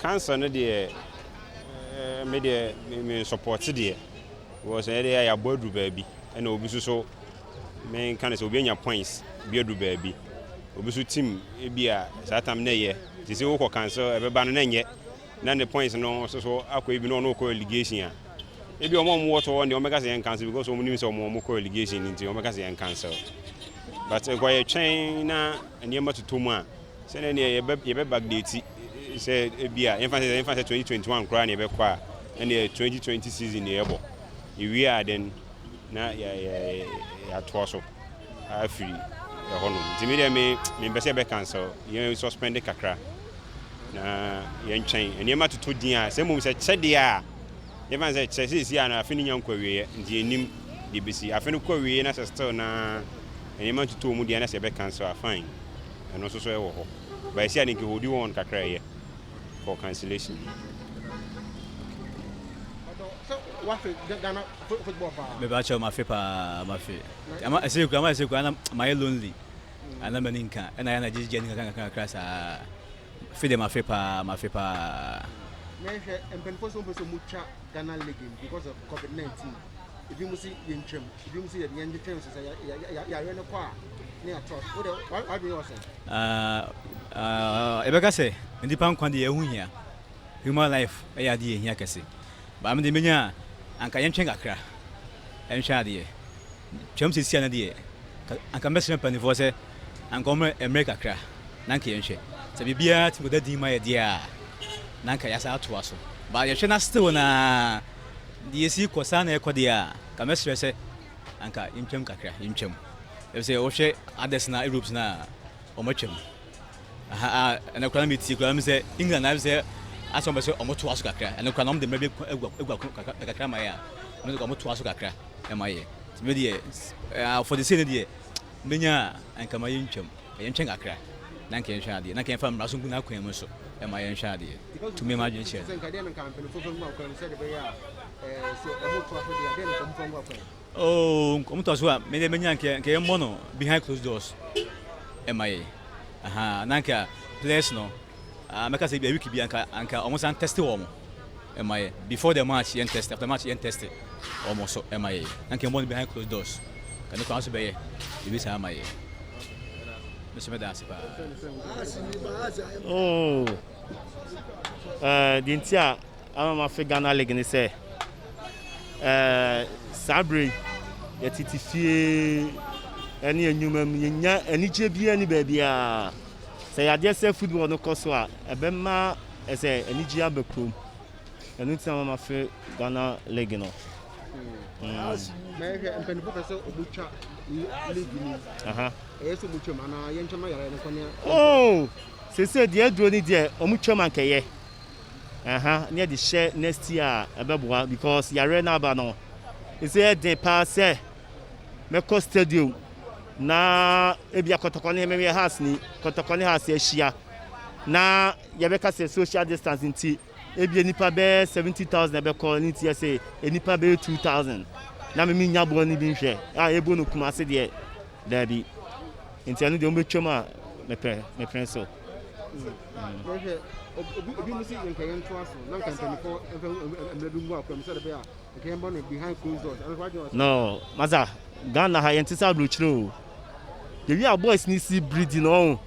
Cancer no deɛ eh, me deɛ me support deɛ because ɛyɛ deɛ yɛabɔ aduru baabi ɛna obi nso so menka no sɛ obi anya points bi aduru baabi obi nso tim ebi a saa tam na ɛyɛ te sɛ wokɔ cancer ɛbɛba no na ɛnyɛ na ne points no nso so akɔ ebi na ɔno kɔ allegation a ebi ɔmo ɔmo wɔ tɔɔ deɛ ɔmo bɛka sɛ yɛn cancer because ɔmo nim sɛ ɔmo ɔmo kɔ allegation nti ɔmo bɛka sɛ yɛn cancer but nkɔyɛ twɛn na nneɛma totɔ mu a, sɛnea ɛneɛ yɛbɛ yɛbɛ backdate sɛ ebia yɛmfa sɛ yɛmfa sɛ 2021 koraa na yɛbɛkɔ a ɛneɛ 2020 season na yɛbɔ ewie a then na yɛ yɛ yɛatoa so afiri ɛhɔ nom nti mi deɛ me mempɛ sɛ yɛbɛ cancel yɛn suspend kakra na yɛntwɛn nneɛma totɔ din a sɛ mmom sɛ kyɛ deɛ a yɛmfa sɛ kyɛ sɛ esi a na afe no nya nkɔ awieɛ nti yɛnim deɛ besi afe no kɔ awieɛ na sɛ still na nneɛma ntutɔ wɔn din anaasɛ yɛbɛ cancel a fine ɛno nso so ɛwɔ hɔ but ɛsɛ a ne nkeholdi wɔn kakra ɛyɛ for cancellation. Mebakyɛw mafe paa mafe ama ɛsɛ kura ama ɛsɛ kura na mayɛ lonely ana mani nka ɛna yɛ na gyegye ani kakra kakra kakra saa fe de mafe paa mafe paa. Mehwɛ mpanyinfoɔ sɛ wɔn pɛ sɛ wɔn twa Ghana league because of COVID-19. ebinom se yɛntwam, ebinom se yɛde yɛn ntwentwɛn so sɛ yɛayɛ no kɔ a ne yɛatoa so. Wode w'adwene yɛ ɔsɛn? Yɛbɛka sɛ nnipa nkwa deɛ ɛho hia, human life ɛyɛ adeɛ ɛhia kɛse. Baa me deɛ menya a, anka yɛntwɛn kakra nhwɛ adeɛ. Twam sesia no deɛ, anka mɛsrɛ mpanimfoɔ sɛ anka wɔn mmerɛ kakra na anka yɛnhwɛ. Sɛ biribiara tumi kɔda din ma yɛ deɛ a, na anka yɛasan atoa so. Baa yɛhwɛ na still na Deɛ ɛsi kɔ saa na ɛkɔ deɛ a, nka mɛsrɛ sɛ anka yɛntwam kakra, yɛntwam. Ɛfiri sɛ wohwɛ others na Europes no a, wɔatwam. Aha a, ɛnɛ koraa na metie koraa mu sɛ England ayɛ sɛ asɛ wɔn bɛ sɛ wɔn toa so kakra. Ɛnɛ koraa na wɔn de mmerɛ bi agua agua kakra kakra ma yɛ a, wɔn de wɔn toa so kakra ma yɛ. Ti mi deɛ, ɛɛ afɔde sei ne deɛ, menya a, anka ma yɛntwam. Yɛntwɛn kakra na anka yɛnhwɛ adeɛ, na anka yɛmfa mmara so ngu n'akwan mu nso ma yɛnhwɛ adeɛ. Tumi ma adwene kyerɛ. Oh, wɔn tɔ so a, mede menya anka anka yɛmmɔ no behind closed doors ma yɛn. Aha, na anka players no Ah mɛka sɛ ebia week bi anka anka wɔn san test wɔn ɛma yɛ before the match yɛn test after match yɛn test wɔn so ɛma yɛ na nka ɛbɔ no behind closed doors ka ne kwan so bɛyɛ ebi saa ama yɛ mesɛ mɛda ase paa. Oh. Eh, deɛ nti a ama mafe ghana league ne sɛ eh, saa berɛ yi yɛtete fie ɛne anwuma mu yɛnya anigyeɛ biara ne baabiaa Sɛ yɛagye sɛ football no kɔ so a, ɛbɛma ɛsɛ anigye aba kurom. Ɛno nti na mama fɛ Ghana league no. Mɛhwɛ mpanyinfo pɛ sɛ ɔmo twa league ni. Ɛyɛ sɛ ɔmo twam anaa yɛn twam ayara yɛn kɔnea. Oo sese deɛ aduro ni deɛ ɔmo twam ankɛyɛ. Ɛha ne yɛde hyɛ next year a ɛbɛboa because yare n'aba no ɛsɛ ɛden paa sɛ. Mɛkɔ stadium na ebia kɔtɔkɔ ne mɛyɛ house ni kɔtɔkɔ ne house ahyia na yɛbɛka sɛ social distance nti ebia nipa bɛyɛ seventy thousand ɛbɛkɔ ne nti ɛsɛ nipa bɛyɛ two thousand na mɛmi nya boɔ ne bi nhwɛ a ebo no kuma ase deɛ daabi nti ɛno deɛ wɔn bɛtwam a mɛpɛ mɛpɛ so. Mm. No masa Ghana ha yɛnte sɛ aburokyire o. Yɛwie a boys no si biridi no ɔho.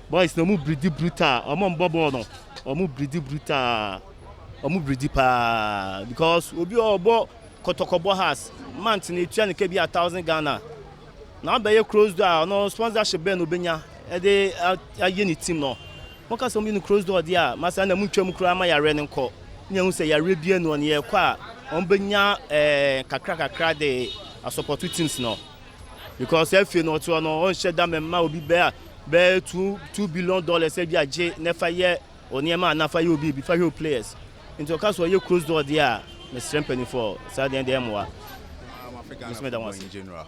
Boys no ɔmo biridi brutal. Ɔmo mbɔ bɔɔl no. Ɔmo biridi brutal. Ɔmo biridi paa because obi a ɔbɔ kɔtɔkɔbɔ has month no etua ne ka bi a thousand Ghana. Na abɛyɛ close door a ɔno sponsorship bɛn na obenya ɛde ayɛ ne team no. Moka sɛ wɔde Nucrosdor deɛ a, ma saa na montwa mu koraa ma yareɛ no nkɔ na yɛahu sɛ yareɛ bi annu wɔn. Yɛrekɔ a, wɔbɛnya kakra kakra de asɔpɔto teams no because afei no ɔtoɔ no ɔnhyɛ da mɛma obi bɛ a bɛyɛ two two billion dollars ebi agye na fa yɛ onneɛma anaa fa yɛ obi bi fa hwɛ o players nti ɔka sɛ ɔyɛ cross door deɛ a mesrɛ mpanimfoɔ saa deɛ deɛ mmoa. Mr. General.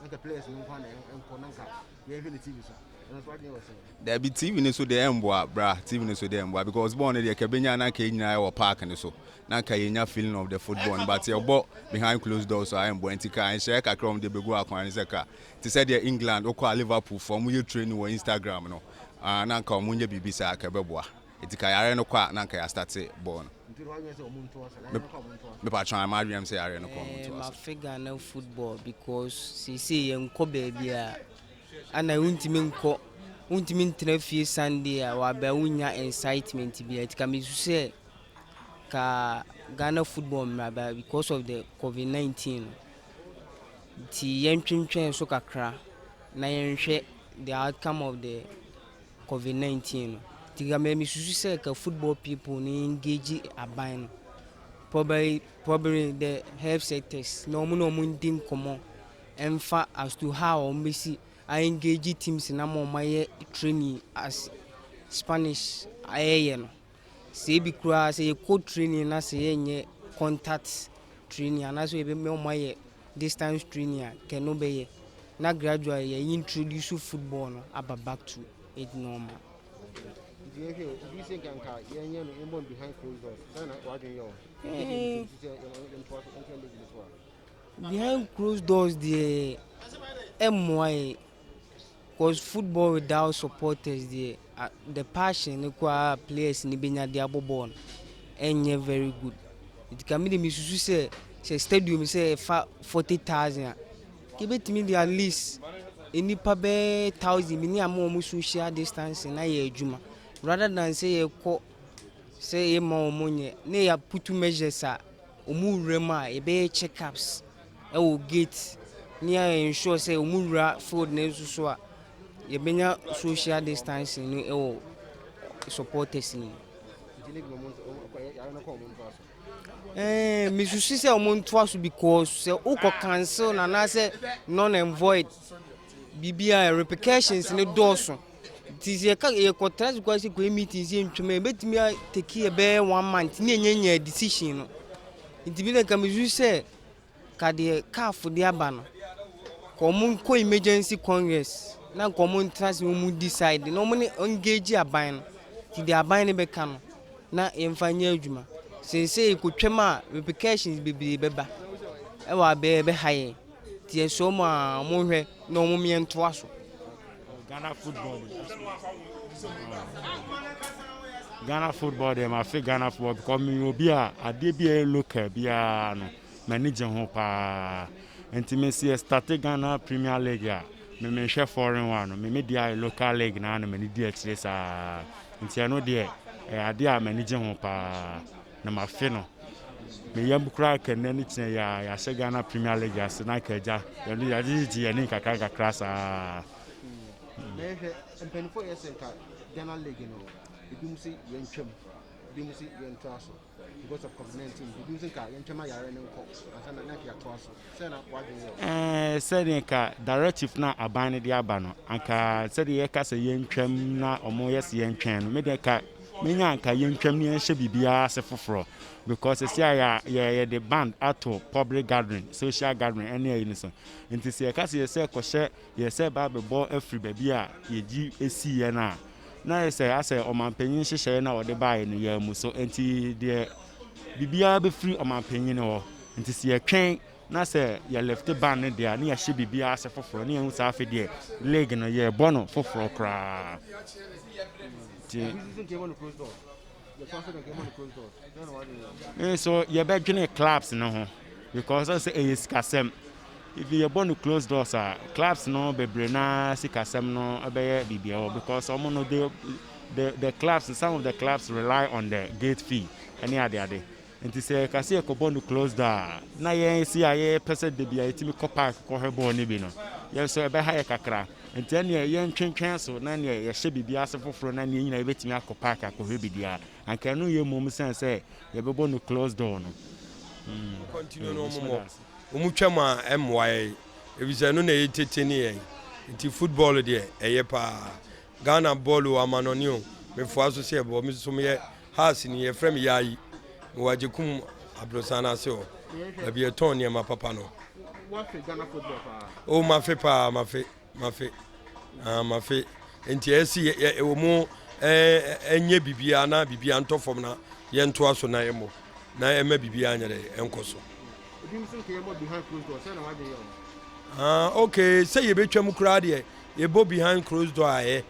na nka players no nko na ɛnkɔ na nka yɛhwɛ ne tv so ɛno nso adwene wɔ sɛ daabi tv no so deɛ ɛmboa bra tv no so deɛ ɛmboa because bɔɔl no deɛ ka bɛnya na nka ɛnyina ɛwɔ park no so na nka yɛnya feeling of the football no but yɛbɔ behind closed doors so a ɛmboa nti ka nhyɛɛ kakra wɔm deɛ bɛgu akwan no sɛ ka te sɛ deɛ England wokɔ a Liverpool fo wɔn yɛ training wɔ Instagram no ah, na nka wɔn nyɛ biribi saa ka ɛbɛboa Enti ka yare no kɔ a na anka ya starte bɔɔl no. Nti na wadwene sɛ ɔmo nto ɔsɛ na yɛbɛkɔ ɔmo nto ɔsɛ. Me patron a m'adwenem sɛ yare no kɔ ɔmo nto ɔsɛ. Ma fe Ghana football because seesei yɛ nkɔ baabia ana wontumi nkɔ wontumi ntena fie Sunday a waba wonnya incitement bia nti ka mesu sɛ ka Ghana football mmra ba because of the covid 19 no nti yɛntwentwɛn so kakra na yɛnhwɛ the outcome of the covid nineteen no nti nka mɛ mesusu sɛ ka football people no engage aban no probably probably the health sectors na wɔn na wɔn di nkɔmɔ ɛnfa as to how wɔn bɛsi a engage teams na ma wɔn ayɛ training as spanish ayɛyɛ no. Sɛ ebi koraa sɛ yɛkɔ training na sɛ yɛnyɛ contact training anaasɛ yɛbɛma wɔn ayɛ distance training a nka ɛno bɛyɛ na gradually yɛ introduce football no aba back to it normal. nti yɛhwɛ o obi sɛ nka nka yɛnyɛ no yɛmmɔ no behind closed doors sɛ na wadwen yɛ o eh. sɛ yɛmtoa so ntra league no so a behind closed doors deɛ ɛmmoa yɛ Cause football without supporters deɛ ah the passion no koraa a players no bɛnya de abɔ bɔɔl no ɛnyɛ very good. Nti ka me deɛ mesusu sɛ sɛ stadium sɛ ɛfa forty thousand a nka ebɛtumi de at least nnipa bɛyɛ thousand bi ne ama wɔn social distancing na ayɛ adwuma rather than sɛ yɛkɔ sɛ yɛma wɔn nyɛ na yɛaputu measures a wɔn wura mu a yɛbɛyɛ check ups. wɔ gate ne a ensure sɛ ɔmo wura field no nso so a, yɛbɛnya social distancing no wɔ supporters no mu. Ɛɛ mesusu sɛ ɔmo ntoa so because sɛ wokɔ cancel na anaasɛ non and void biribi a repercussions no dɔɔso nti sɛ yɛka yɛkɔtena so kɔ sɛ kɔyɛ meetings yɛ ntwam a yɛbɛtumi a take yɛ bɛyɛ one month ne yɛnyɛ nyɛ decision no nti bi na nka mesusu sɛ. ka deɛ caf de aba no ka wɔn nkɔ emergency congress na nka wɔn ntena ase na wɔn decide na wɔn ne engage aban no ti deɛ aban no bɛka no na yɛmfa nyɛ adwuma seesei kotwam a repercussions bebree bɛba ɛwɔ abɛɛ ɛbɛha yɛn ti ɛsɛ wɔn a wɔn hwɛ na wɔn mmea ntoa so. Ghana football de. Ghana football de ma fi Ghana football because mi obi a adeɛ bi a ɛyɛ local biara no m'ani gye ho paa nti mi si ɛstate Ghana Premier League a mi mi nhwɛ foreign one no mi mi di ayɛ local league naa na m'ani di akyire saa nti ɛno deɛ ɛyɛ adeɛ a m'ani gye ho paa. na mafe no me yam koraa ka nnɛ ne tena yi a yɛahyɛ Ghana Premier League ase na ka agya yɛde yɛde gyegye yɛn anim kakra kakra saa. Mɛhwɛ mpanyinfoɔ yɛ sɛ nka Ghana League no ebi mu sɛ yɛn twam ebi mu sɛ yɛn to aso because of COVID-19 ebi mu sɛ nka yɛn twam ayare no nkɔ ansa na na yɛatoa so. Ɛɛ, sɛdeɛ ka directive no a aban no de aba no, anka sɛdeɛ yɛka sɛ yɛntwam na wɔyɛ sɛ yɛntwɛn no, me deɛ ka menya anka yɛntwam na yɛnhyɛ biribiara ase foforɔ because ɛsi a yɛde band ato public gathering, social gathering ɛne ayi no so. Nti sɛ yɛka sɛ yɛsɛ kɔhyɛ Yɛsɛ ba bɛbɔ afiri baabi a yɛgyi siiɛ no a, na ayɛ sɛ asɛ ɔmanpanyin nhyehyɛeɛ no a wɔde baeɛ no yɛn mu so. Enti deɛ biribiara bɛfiri ɔmanpanyin hɔ. Enti sɛ yɛtwɛn na sɛ yɛ lifte ban no deɛ a, na yɛahyɛ biribiara ase foforɔ. Na yɛhu sɛ afei deɛ league no yɛrebɔ no foforɔ koraa. Nti. Me nso yɛbɛdwene clubs no ho because ɔsɛ ɛyɛ sikasɛm. If yɛbɔ no close doors a clubs no bebree na sikasɛm no ɛbɛyɛ biribi ɛwɔ because wɔn no they the the clubs some of the clubs rely on the gate fee ɛne ade ade. Enti sɛ yɛka sɛ yɛkɔbɔ no close da a, na yɛn se a yɛpɛ sɛ da biara yɛtumi kɔ park kɔhwɛ bɔɔl no bi no, yɛn nso ɛbɛha yɛn kakra. Enti ɛnneɛ yɛntwentwɛn so na ɛnneɛ yɛhyɛ biribi ase foforɔ na ɛnneɛ yɛn nyinaa yɛbɛtumi akɔ park akɔhwɛ biribi a, anka ɛno reyɛ mmom sɛn sɛ yɛbɛbɔ no close door no. Continue no wɔn mmɔ. Wɔn twam a ɛmmoa yɛn efisɛ ɛno na ɛyɛ tete ne yɛn. Enti football deɛ ɛyɛ paa. Ghana bɔɔl o amanɔne o mefoa so sɛ bɔ mesoso meyɛ Hearts ni yɛfrɛ me Yayi mewɔ Agyekum Abrosan no ase hɔ baabi yɛtɔn nneɛma papa no o mafe paa mafe mafe ah, mafe nti ɛsi ɛwɔ mu ɛnyɛ biribiara na biribiara ntɔ fam na yɛntoa so na yɛmmɔ na ɛma biribiara nyɛ dɛ ɛnkɔ so ah, ok sɛ yɛbɛtwam koraa deɛ Yɛbɔ behind closed door ayɛ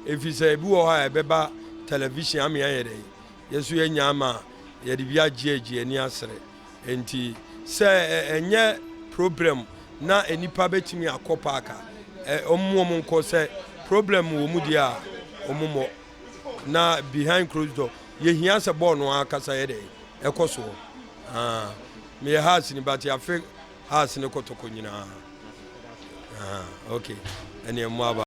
efisɛ ebi wɔ hɔ a ɛbɛba television ama yɛayɛ dɛn? Yɛn nso yɛanya ama yɛde bi agye agye ani asere. Enti sɛ ɛnyɛ problem na nnipa betumi akɔ park a, wɔn wɔn nkɔ. Sɛ problem wɔ mu deɛ a, wɔn mmɔ. Na behind closed door, yɛhia sɛ bɔɔl no ankasa yɛ dɛn? Ɛkɔ soɔ. Ah, meyɛ Hearts ni but yɛafe House ne kotoko nyinaa. Ahaa okay ɛneɛ mmoa aba.